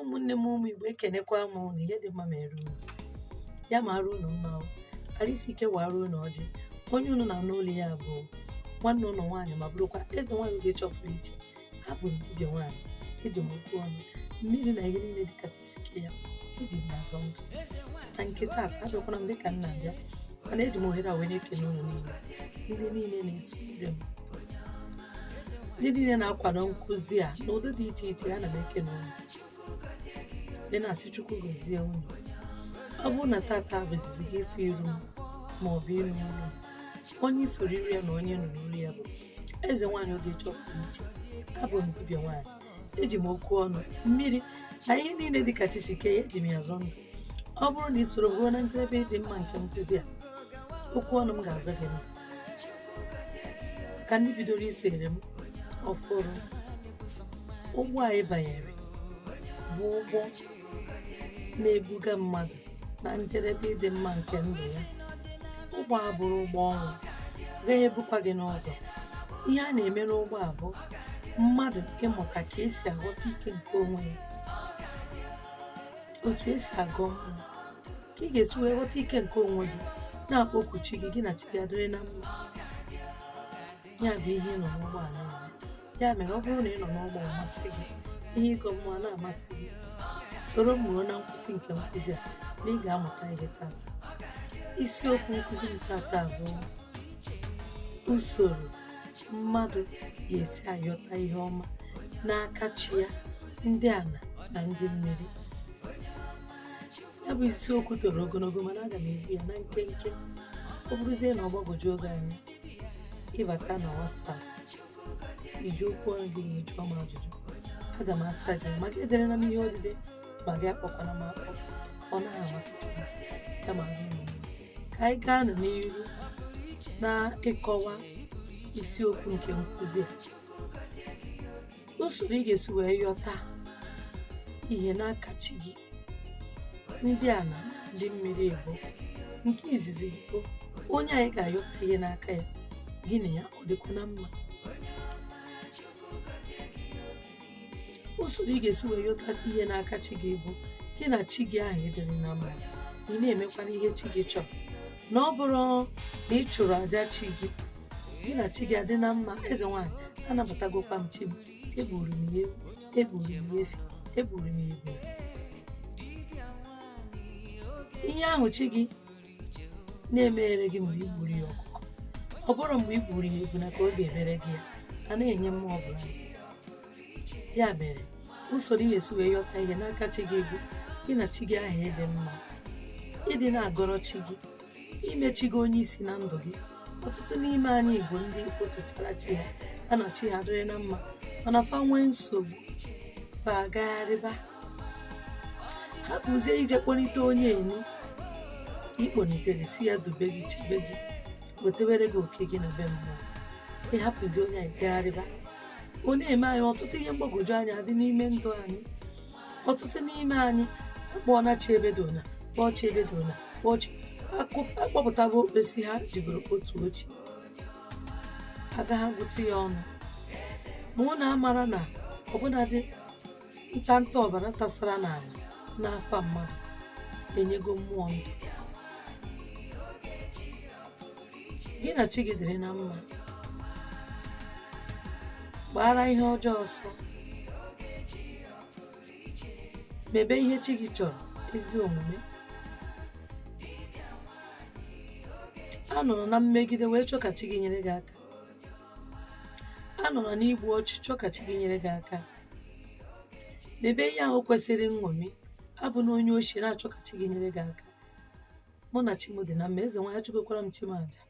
ụmụnne m ụmụ igbo ekenekwa m unu ihe dị mma mere unu ya ma arụ unu mma arụ isi ike wara unu ọjị onye unu na-anụ olu ya bụ nwanne unu nwaanyị ma bụrụkwa eze nwaanyị ogechi ọpụrụ iche abụ m dibịa nwaanyị eji m okwu ọnụ mmiri na ihe niile dị ka chi si kee ya eji m azọ ndụ na nke taa abịakwana m dịka m na-abịa mana eji m ohere a wee na-ekele unu niile ndị niile na-esonyere m ndị niile na-akwado nkụzi a n'ụdị dị iche iche ana m ekene unu ị na-asị chukwu gozie unu ọ bụrụ na tata bụ izizi gị ife iru m ma ọ bụ ịnụ olu m, onye i furu iru ya na onye nụrụ olu ya bụ eze nwaanyị ogechi ọpụrụ iche abụ m dibịa nwaanyị eji m okwu ọnụ mmiri na ihe niile dị ka chi si kee ya eji m azọ ndụ ọ bụrụ na ị soro ruo na njedebe ịdị mma nke nkụzi a okwu ọnụ m ga-azọ gị maka ndị bidoro isonyere m ọfụrụ ụgbọ anyị banyere bụ ụgbọ na-ebuga mmadụ na njedebe ịdị mma nke ndụ ya ụgbọ a abụrọ ụgbọ ọnwụ gaghị ebukwa gị n'ụzọ ihe a na-eme n'ụgbọ a bụ mmadụ ịmụta ka esi aghọta ike nke onwe ya otu esi agọ mmụọ ka ị ga-esi wee ghọta ike nke onwe gị na-akpọku chi gị gị na chi gị adịrị na mma ya bụ ihe ị nọ n'ụgbọala ya ya mere ọ bụrụ na ịnọ n'ụgbọ a masị gị ihe ịgọ mmụọ na-amasị gị soro m ruo na nkwụsị nke nkụzi a na ị ga-amụta ihe tata isiokwu nkụzi m tata bụ usoro mmadụ ga-esi ayọta ihe ọma n'aka chi ya ndị ana na ndị mmiri ya bụ isiokwu toro ogologo mana aga m ebu ya na nkenke ọ bụrụzie na ọ gbagwojuo gị anya ị bata na WhatsApp iji okwu ọnụ gị wee jụọ m ajụjụ aga m asa gị ma gị ederena m ihe odide ma gị akpọkwana m akpọ ọ naghị amasịcha m ya mere ka anyị gaanụ n'iru na ịkọwa isiokwu nke nkụzi a usoro ị ga-esi wee yọta ihe n'aka chi gị ndị ana ndị mmiri ebo nke izizi bụ onye anyị ga-ayọta ihe n'aka ya gị na ya ọ dịkwa na mma usoro ị ga-esi wee yọta ihe n'aka chi gị bụ gị na chi gị ahụ ịdịrị na mma ị na-emekwana ihe chi gị chọrọ na ọ bụrụ na ị chụrụ aja chi gị gị na chi gị adị na mma eze nwaanyị anabatagokwa m chi m egburu m ya ewu egburu m ya efi egburu m ya ebune ihe ahụ chi gị na-emere gị mgbe igburu ya ọkụkọ ọ bụrụ mgbe igburu ya ebune ka ọ ga-emere gị ya a na-enye mmụọ ọbụla ya mere usoro ị ga-esi wee yọta ihe n'aka chi gị bụ gị na chi gị ahụ ịdị mma ịdị na-agọrọ chi gị ime chi gị onye isi na ndụ gị ọtụtụ n'ime anyị bụ ndị kpọtuchara chi ha ha na chi ha dịrị na mma mana fa nwee nsogbu fa agagharịba hapụzie ije kpọnite onye ahụ ị kpọnitere sị ya dube gị chebe gị wetewere gị oke gị na be mmụọ ịhapụzi onye ahụ gagharịba ọ na-eme anyị ọtụtụ ihe mgbagwoju anya dị n'ime ndụ anyị ọtụtụ n'ime anyị akpọọna chi ebe dị ụnya kpọọ chi ebe dị ụnya kpọọ chi akụ- akpọpụtaba okpesi ha jibere otu ochi agaghị agụta ya ọnụ ma ọ na-amara na ọbụnadị ntanta ọbara tasara n'ala n'afa mmadụ enyego mmụọ ndụ gị na chi gị dịrị na mma gbaara ihe ọjọọ ọsọ mebe ihe chi gị chọrọ ezi omume anọrọ na mmegide wee chọọ ka chi gị nyere gị aka anọrọ n'igbu ọchụ chọọ ka chi gị nyere gị aka mebe ihe ahụ kwesịrị nṅomi abụna onye oshi na-achọ ka chi gị nyere gị aka mụ na chi m dị na mma ezenwanyị achụgokwara m chi m aja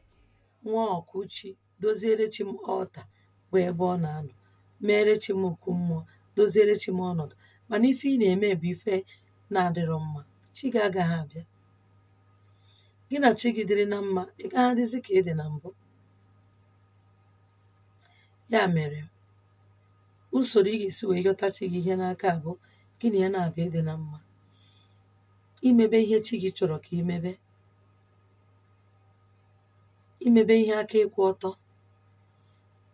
nwa ọkụ chi doziere chi m ọta bụ ebe ọ na-anọ meere chi m okwu mmụọ doziere chi m ọnọdụ mana ife ị na-eme bụ ife na-adịrọ mma chi gị agaghị abịa gị na chi gị dịrị na mma ị gaghị adịzi ka ị dị na mbụ ya mere usoro ị ga-esi wee yọta chi gị ihe n'aka bụ gị na ya na-abịa ịdị na mma imebe ihe chi gị chọrọ ka imebe imebe ihe aka ịkwụ ọtọ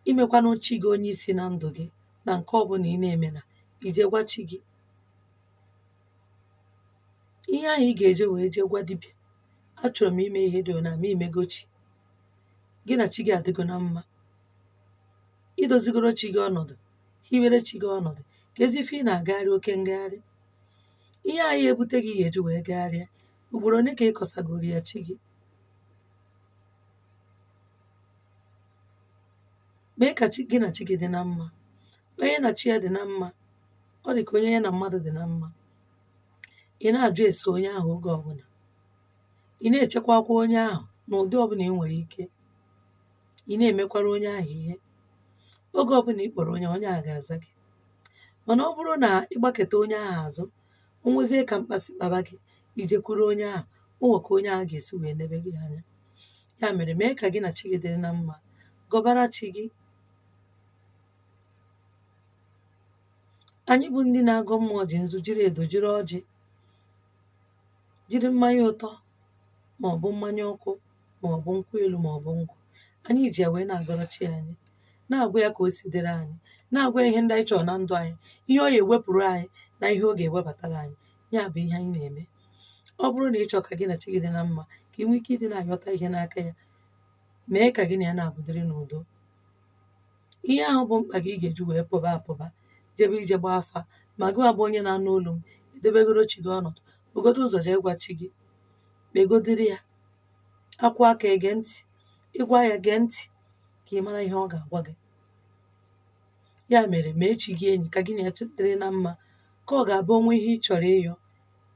imekwanụ chi gị onye isi na ndụ gị na nke ọbụla ị na-eme na ije gwa chi gị ihe ahụ ị ga-eje wee jee gwa dibịa achọrọ m ime ihe dị na ma imego chi gị na chi gị adịgo na mma idozigoro chi gị ọnọdụ hiwere chi gị ọnọdụ keezi ife ị na-agagharị oke ngagharị ihe a ya ebute gị ga-eji wee gagharịa ugboro ole ka ị kọsagoro ya chi gị mee ka gị na chi gị dị na mma onye na chi ya dị na mma ọ dị ka onye ya na mmadụ dị na mma ị na-ajụ ese onye ahụ oge ọbụla ị na-echekwakwa onye ahụ n'ụdị ọbụla ị nwere ike ị na-emekwara onye ahụ ihe oge ọbụla ị kpọrọ onye onye ahụ ga-aza gị mànà ọ bụrụ nà ị gbakèta onye ahụ àzụ o nwezie kà mkpà sì kpaba gị ì jekwuru onye ahụ o nwè kà onye ahụ gà-èsi wèe nebe gị anya ya mèrè mee kà gị nà chi gị dịrị na mmā gọbara chi gị ànyị bụ ndị na-agọ mmụọ jì nzu jiri èdò jiri ọjị̄ jiri mmanya ụtọ màọbụ mmanya ọkụ ma ọ bụ nkwụ elu ma ọ bụ ngwọ anyị ji ya wee na-agọrọ chi anyị na-agwa ya ka o si dịrị anyị na-agwa ya ihe ndị anyị chọrọ na ndụ anyị ihe ọ ya-ewepụrụ anyị na ihe ọ ga-ewebatara anyị ya bụ ihe anyị na-eme ọ bụrụ na ị chọọ ka gị na chi gị dị na mma ka ị nwee ike ịdị na-ayọta ihe n'aka ya mee ka gị na ya naabọ dịrị n'udo ihe ahụ bụ mkpa gị ị ga-eji wee pụba apụba jebe ije gbaa afa ma gị nwa bụ onye na-anụ olu m edebegoro chi gị ọnọdụ bugodo ụzọ jee gwa chi gị kpegodiri ya akwụ aka ege ntị ị gwa ya gee ntị ka ị mara ihe ọ ga-agwa gị ya mere mee chi gị enyi ka gị na ya dịrị na mma ka ọ ga-abụ o nwee ihe ị chọrọ ịyọ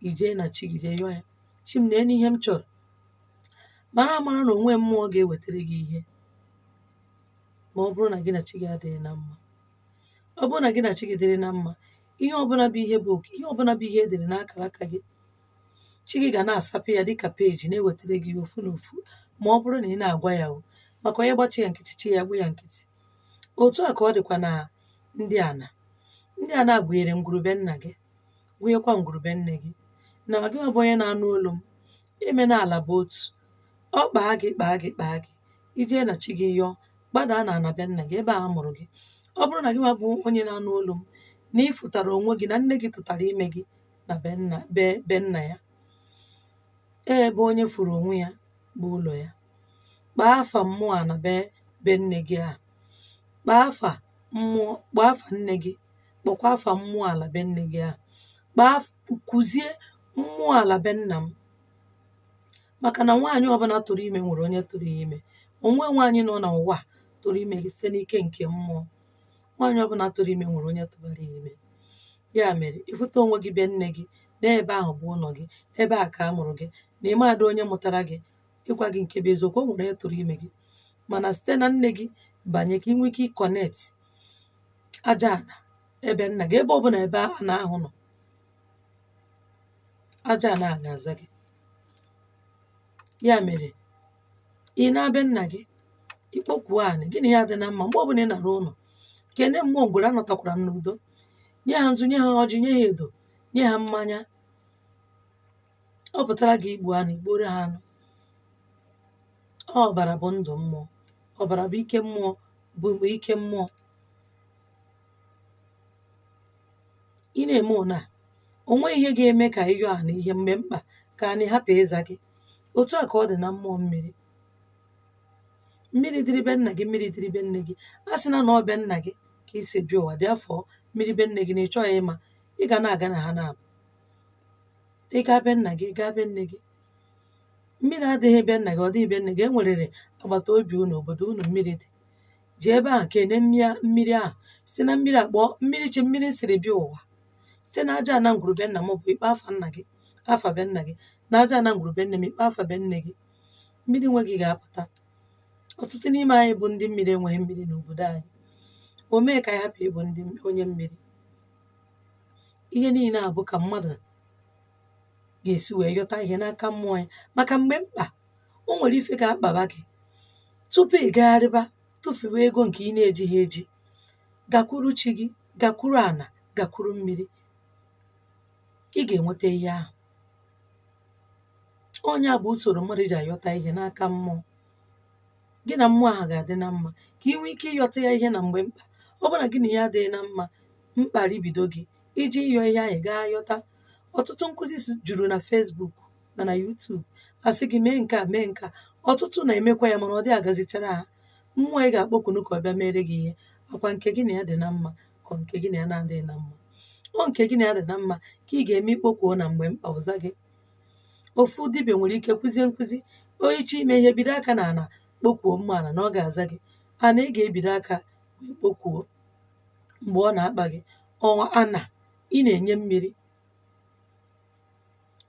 i jee na chi gị jee yọọ ya chi m neenụ ihe m chọrọ mara amara na o nwe mmụọ ga-ewetara gị ihe ma ọ bụrụ na gị na chi gị adịghị na mma ọ bụrụ na gị na chi gị dịrị na mma ihe ọbụla bụ ihe bụ oke ihe ọbụla bụ ihe e dere n'akara aka gị chi gị ga na-asapụ ya dịka peji na-ewetara gị ya ofu na ofu ma ọ bụrụ na ị na-agwa ya o maka onye gba chi ya nkịtị chi ya gbu ya nkịtị otu a ka ọ dịkwa na ndị ana ndị ana gụnyere ngwuru be nna gị gụnyekwa ngwuru be nne gị na ma gị nwa bụ onye na-anụ olu m ị ma na ala bụ otu ọ kpaa gị kpaa gị kpaa gị i jee na chi gị yọọ gbadaa na ana be nna gị ebe a mụrụ gị ọ bụrụ na gị nwa bụ onye na-anụ olu m na ị fụtara onwe gị na nne gị tụtara ime gị na be nna ya e ebe onye fụrụ onwe ya bụ ụlọ ya kpaa afa mmụọ ana be nne gị ahụ kpaa afa nne gị kpọkwa afa mmụọ ala be nne gị ahụ kuzie mmụọ ala be nna m maka na nwaanyị ọbụla tụrụ ime nwere onye tụrụ ya ime o nwe nwaanyị nọ n'ụwa a tụrụ ime site n'ike nke mmụọ nwaanyị ọbụla tụrụ ime nwere onye tụbara ya ime ya mere ịfụta onwe gị be nne gị n'ebe ahụ bụ ụnọ gị ebe a ka a mụrụ gị na ịmadụ onye mụtara gị ịgwa gị nke bụ eziokwu o nwere onye tụrụ ime gị mana site na nne gị banye ka ị nwee ike ịconnect aja ana ebe nna gị ebe ọbụla ebe ana ahụ nọ aja ana a ga-aza gị ya mere ị naa be nna gị ị kpokwuo anị gị na ya dị na mma mgbe ọbụla ị nara ụnọ kene mmụọ ngwuru anọtakwara m n'udo nye ha nzu nye ha ọjị nye ha edo nye ha mmanya ọ pụtara gị igbu anụ i gbuoro ha anụ ọbara bụ ndụ mmụọ ọbara bụ ike mmụọ bụ ike mmụọ ị na-eme one a o nweghị ihe ga-eme ka ịyọ ana ihe mgbe mkpa ka anị hapụ ịza gị otu a ka ọ dị na mmụọ mmiri mmiri dịrị be nna gị mmiri dịrị be nne gị a sị na ọ be nna gị ka i si bịa ụwa dị afọ mmiri be nne gị na ị chọghị ịma ị ga na-aga na ha naabọ ị gaa be nna gị ị gaa be nne gị mmiri adịghị be nna gị ọ dịghị be nne gị e nwerere agbata obi unu obodo unu mmiri dị ji ebe ahụ kene mmiri ahụ sị na mmiri akpọ mmiri chi mmiri m siri bịa ụwa si na aja ana ngwuru be nna m bụ ị kpọ afa nna gị afa be nna gị na aja ana ngwuru be nne m ị kpọ afa be nne gị mmiri nwe gị ga-apụta ọtụtụ n'ime anyị bụ ndị mmiri enweghị mmiri n'obodo anyị o mee ka anyị hapụ ịbụ ndị onye mmiri ihe niile a bụ ka mmadụ ga-esi wee yọta ihe n'aka mmụọ ya maka mgbe mkpa o nwere ife ga-akpaba gị tupu ị gagharịba tụfuwe ego nke ị na-ejighị eji gakwuru chi gị gakwuru ana gakwuru mmiri ị ga-enweta ihe ahụ onye a bụ usoro mmadụ ji ayọta ihe n'aka mmụọ gị na mmụọ ahụ ga-adị na mma ka ị nwee ike ịyọta ya ihe na mgbe mkpa ọ bụrụ na gị na ya adịghị na mma mkpa ribido gị ị je ịyọ ihe ahụ ga-ayọta ọtụtụ nkụzi juru na Facebook ma na YouTube a sị gị mee nke a mee nke a ọtụtụ na-emekwa ya mana ọ dị agazichara ha mmụọ ị ga-akpọkunu ka ọ bịa mere gị ihe ọ kwa nke gị na ya dị na mma ka ọ nke gị na ya na-adịghị na mma ọ nke gị na ya dị na mma ka ị ga-eme ị kpokwuo na mgbe mkpa ọ zaa gị ofu dibịa nwere ike kụzie nkụzi o ị chọọ ime ihe bido aka na ana kpokwuo mma ana na ọ ga-aza gị ana ị ga-ebido aka wee kpokwuo mgbe ọ na-akpa gị ọ kwa ana ị na-enye mmiri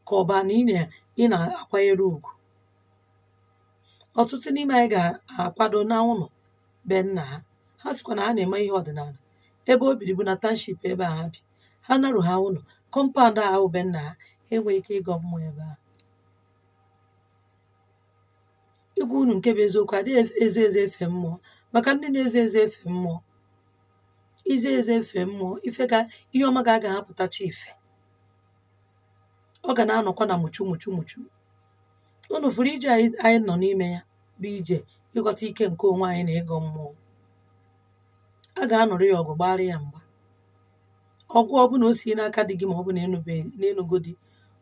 ka ọ bụ ana ị na ị na-akwanyere ugwu ọtụtụ n'ime anyị ga-akwado na ụlọ be nna ha ha sịkwa na ha na-eme ihe ọdịnala ebe o biri bụ na township ebe a ha bi ha narụ ha ụlọ kọmpaụnd ahụ be nna ha ha enweghị ike ịgọ mmụọ ebe ahụ ịgwa unu nke bụ eziokwu a dịghị efe- ezo ezo efe mmụọ maka ndị na-ezo ezo efe mmụọ izo ezo efe mmụọ ife ga ihe ọma gị agaghị apụtacha ife ọ ga na-anọkwa na mụchu mụchu mụchu unu fụrụ ije anyị nọ n'ime ya bụ ije ịghọta ike nke onwe anyị na ịgọ mmụọ a ga-anụrụ ya ọgụ gbara ya mgba ọgụ ọbụla o si n'aka di gị ma ọ bụ na ị nụgo di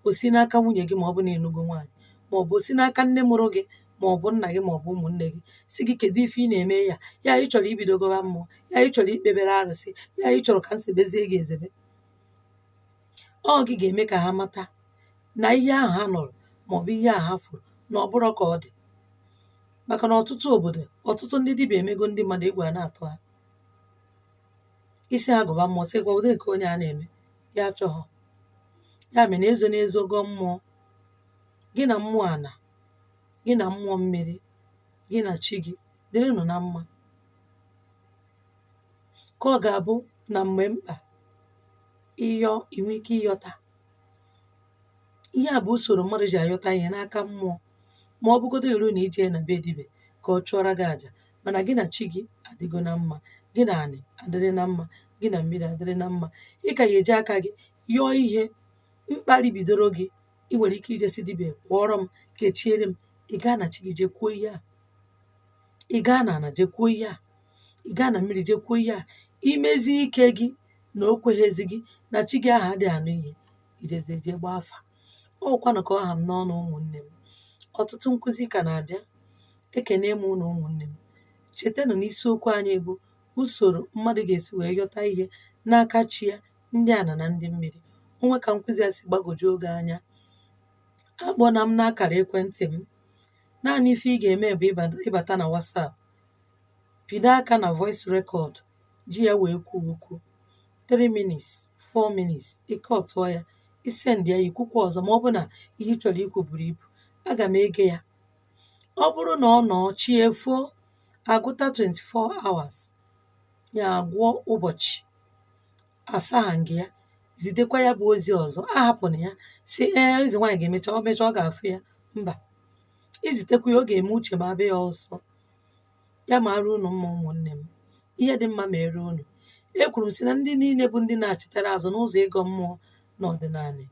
o si n'aka nwunye gị ma ọ bụ na ị nụgo nwaanyị ma ọ bụ o si n'aka nne mụrụ gị ma ọ bụ nna gị ma ọ bụ ụmụnne gị sị gị kedu ife ị na-eme ya ya ị chọrọ ibido gọba mmụọ ya ị chọrọ ikpebere arụsị ya ị chọrọ ka m zebezie gị ezebe ọ gị ga-eme ka ha mata na ihe ahụ ha nụrụ maọbụ ihe ahụ ha fụrụ na ọ bụrọ ka ọ dị maka na ọtụtụ obodo ọtụtụ ndị dibịa emego ndị mmadụ egwu a na-atụ ha ị sị ha gọba mmụọ sịkwa ụdị nke onye a na-eme ya achọghọ ya mere na ezona ezo gọọ mmụọ gị na mmụọ ana gị na mmụọ mmiri gị na chi gị dịrịnụ na mma ka ọ ga-abụ na mgbe mkpa ịyọ ị nwee ike ịyọta ihe a bụ usoro mmadụ ji ayọta ihe n'aka mmụọ ma ọ bụgodo eru na ije na be dibịa ka ọ chụọra gị aja mana gị na chi gị adịgo na mma gị na anị adịrị na mma gị na mmiri adịrị na mma ị ka ya-eji aka gị yọọ ihe mkparị bidoro gị ị nwere ike ije sị dibịa gwọọrọ m kechiere m ị gaa na chi gị jee kwuo ihe a ị gaa na ana jee kwuo ihe a ị gaa na mmiri jee kwuo ihe a i mezie ike gị na o kweghịzi gị na chi gị ahụ adịghị anụ ihe i jezie jee gbaa afa ọkwanụ ka ọ ha m n'ọnụ ụmụnne m ọtụtụ nkụzi ka na-abịa ekene m unu ụmụnne m chetanụ na isiokwu anyị bụ usoro mmadụ ga-esi wee yọta ihe n'aka chi ya ndị ana na ndị mmiri o nwee ka nkụzi a si gbagwojuo gị anya akpọna m n'akara ekwentị m naanị ife ị ga-eme bụ ịba- ịbata na WhatsApp pịdo aka na voice record ji ya wee kwuo okwu 3 minutes 4 minutes i kwutụọ ya i send ya i kwukwa ọzọ ma ọ bụ na ihe ị chọrọ ikwu buru ibu aga m ege ya ọ bụrụ na ọ nọ chi efoo a gụta 24 hours ya a gụọ ụbọchị asaghị m ya zitekwa ya bụ ozi ọzọ ahapụna ya sị ee eze nwaanyị ga-emecha ọ mecha ọ ga-afụ ya mba i zitekwa ya ọ ga-eme uche m abịa ya ọsọ ya maara unu mma ụmụnne m ihe dị mma mere unu ekwuru m sị na ndị niile bụ ndị na-achịtara azụ n'ụzọ ịgọ mmụọ na ọdịnala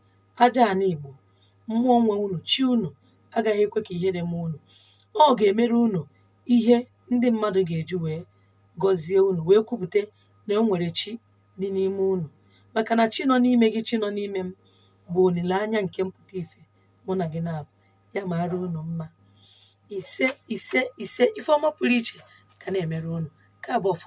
aja ana igbo mmụọ nwe unu chi unu agaghị ekwe ka ihere mee unu ọ ga-emere unu ihe ndị mmadụ ga-eji wee gọzie unu wee kwupụta na o nwere chi dị n'ime unu maka na chi nọ n'ime gị chi nọ n'ime m bụ olileanya nke mpụta ife mụ na gị na-abụ ya maara unu mma ise ise ise ife ọma pụrụ iche ka na-emere unu nke a bụ ọfọ